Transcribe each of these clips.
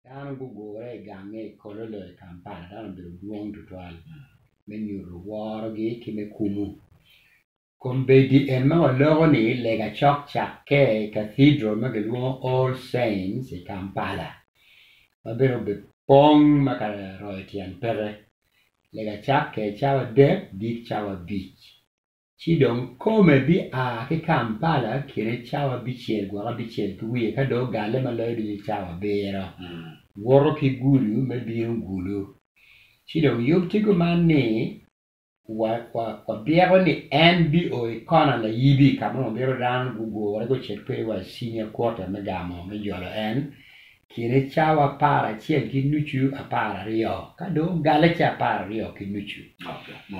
Dano gugure i gangnge i Kololo i Kampala dano obedo dwong tutwal me nyuto worogi ki me kumo. Kombeddi en ma waloko ni lega cok cakke i Cathedral ma kilwongo All Saints i Kampala ma bene obepong ma ka royo tyen pete. Lega cakke cawa adek, gik cawa abic. Ci dong kome bia ki Kampala kine cawa abicel gwoko abicel ki wiye ka dong ogale ma loyo ducu cawa abiro, woto ki Gulu me bino Gulu. Ci dong yub tye kuman ni, wa, wa, wabyeko ni en bio i kona layibi ka ma wabito dano gugure gucit kwedwa i cinya kwota me gamo me jolo en Cite cawa apar acel ki nucu apar aryo. Ka dong ogale ca apar aryo ki nucu,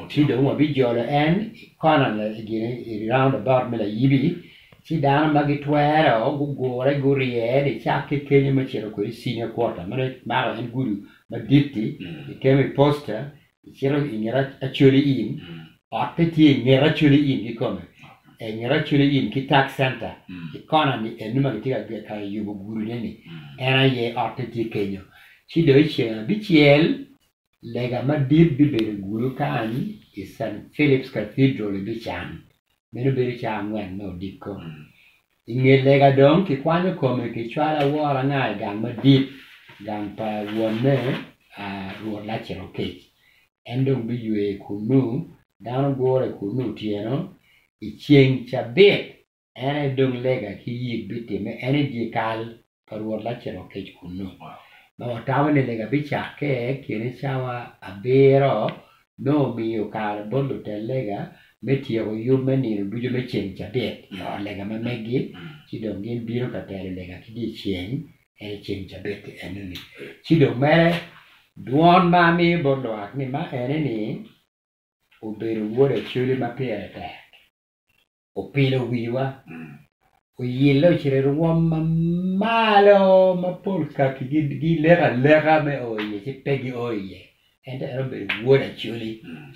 ci dong wabijolo en i kona gini i round about me layibi, ci dano ma gitwere o gugure gurye en i cak ki kenyo me cito kwede i senior quarter, meno kimako en gudo madit-ti, kikemo i posta, Icito i nget Acholi Inn, ot pe tye i nget Acholi Inn kikome, i nget Acholi Inn ki Tax Center i kona ni eni ma kitye ka yubo gudine ni, en aye, ot pe tye kenyo. Ci dong i ceng abicel, lega madit bibedo gudo kany i St. Philip's Cathedral i Bican, meno bedo caa angwen me odiko. I nge lega dong kikwanyo kome kicwalo awora anga i gang madit, gang pa wonne, Rwot Laciro Kic. En dong biywe kunnu, dano gure kunnu otyeno. I ceng cabit en aye dong lega ki yik bitimme, en i dyekal pa Rwot Lacito kec kunnu, ma watamo ni lega bicakke kine cawa abiro, nongo omiyo kare bot lutel lega me tyeko yub me nino ducu me ceng cabit i ot lega ma meggi, ci dong gin bino ka telo lega ki dyeceng, en aye ceng cabit enoni. Ci dong mere, dwon ma amiyo bot lwak ni ma ene ni, obedo wod Acoli ma pire tek. opilo wiwa, oyillo cre rwom ma malo ma pol kaki gileko aleka me o iye ci pe gio iye, ento en obedo Wod Acoli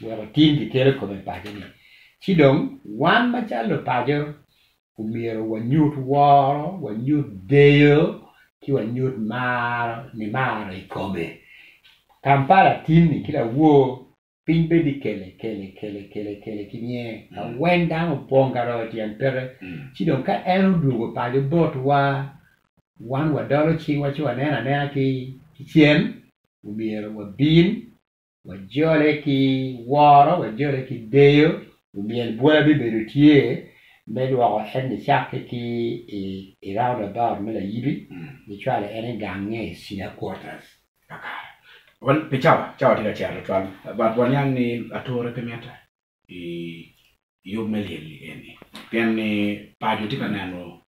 wek otim gikelo kome i paco-ni. Ci dong wan macalo lupaco omyero wanyut woro, wanyut deyo, ci wanyut maro, nimaro i kome. Kampala tinni ki lawor Piny bed i kele kele kele kele kele ki nye ka wen dano opong ka royo tyen pete ci dong ka en odwogo paco botwa wan wadolo cingwa ci wanen anena ki cen omyero wabin wajole ki woro wajole ki deyo omyel bwola bibedo tye me lwoko en ni cakke ki i round about me layibi me cwalo en i gange i Sina quarters. kakare. Wan pi cawa, cawa tye ka cito tutwal, but waniang ni ature pe mitte i yub me lyel-li eni, pien ni paco tye ka neno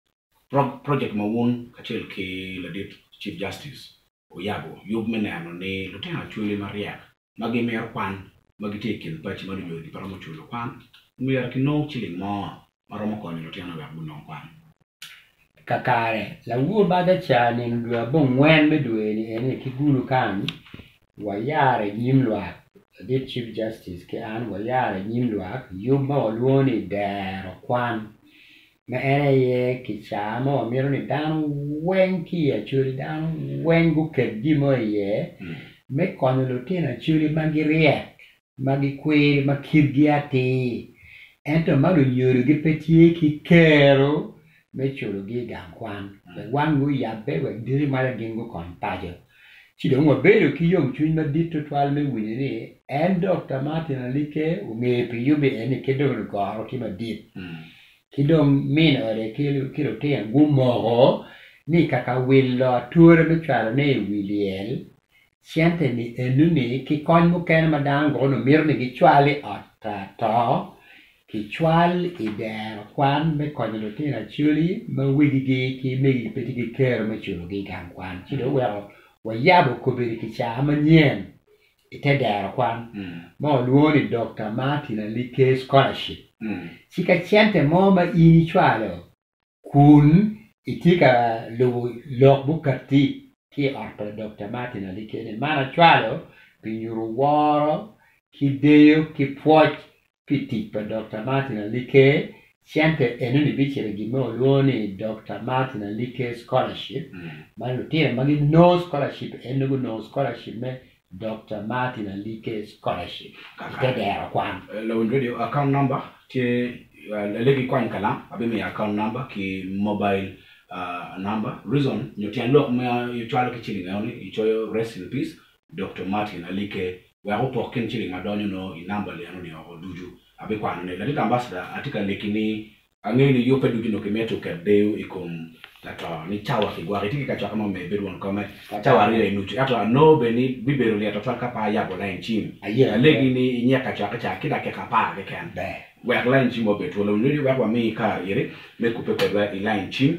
project ma wun kacel ki ladit Chief Justice wuyabo, yub me neno ni lutino acholi maryek ma gimito kwan ma gitye i kin paci ma lunyodigi pe romo culo kwan, myero kinong ciling mo ma romo konyo lutinone wek gunong kwan. Kakare, lawur badha ca nino dwe abongwen me dwe-ni eni ki gulu kany, wayaro i nyim lwak, ladit Chief Justice ki an wayaro i nyim lwak yub ma walwongo ni Dero Kwan. ma en aye kicaa ma wamito ni dano weng ki i Acholi dano weng guket gin mo iye me konyo lutino Acholi ma giryek ma gikwiri ma kitgi atir ento ma lunyodogi pe tye ki kero me culogi i gang kwan wek wangi oyabbe wek diki malo gin gukony paco. Ci dong wabedo ki yomcwiny madit tutwal me winyo ni en Dokta Martin Alikke ongeyo pi yubbe eni kit dong lugoro ki madit ki dong min ode ki lutino gumoko ni kaka wilo ature me cwalone i wi lyel, cente-ni eno-ni ki kony mukene ma dano gwoko nongo mito ni gicwal i ot ato Kicwal i dero kwan me konyo lutino acoli ma wegigi ki megi pe tye ki kero me culogi i gang kwan. Ci dong oweko wayabo kobedi kicaa manyen i te dero kwan ma walwongo ni Dokta Martin Ali Kay Scholarship. Ci ka cente mo ma in icwalo Kun itye ka lubo lok bukatti ki i ot pa Dokta Martin Ali kene, man acwalo pi nyuto woro ki deyo ki pwoc pi tic pa Dokta Martin Ali Care Center. Enoni bicito i gin ma walwongo ni Dokta Martin Ali Care Scholarship ma lutino ma ginongo scholarship eno gunongo scholarship me Dokta Martin Alike Scholarship i te dero kwan. Lawiny Radio, Account number tye Alege ikwany kalam abimiyo account number ki mobile number reason nyo tyen lok ma icwalo ki ciling eno ni icoyo rest in peace Dokta Martin Alike wek opok kin ciling ma donyo noo i number li eno ni oko ducu abikwano ne ladit ambassador atye ka liki ni Angeyo ni yub pe ducu nongo kimito ket deyo i kom lato ni cawa kigwoko itye ki kacokke mo meyo bedo won kome cawa aryo i nucu. Ento anongo bene ni bibedo lye twatwal ka pe ayabo lain cim alegi ni i nyek kacokke ca ki dakika apar keken wek lain cim obed twolo. Nyo ni wek wami kare iri me kubbe kwedwa i lain cim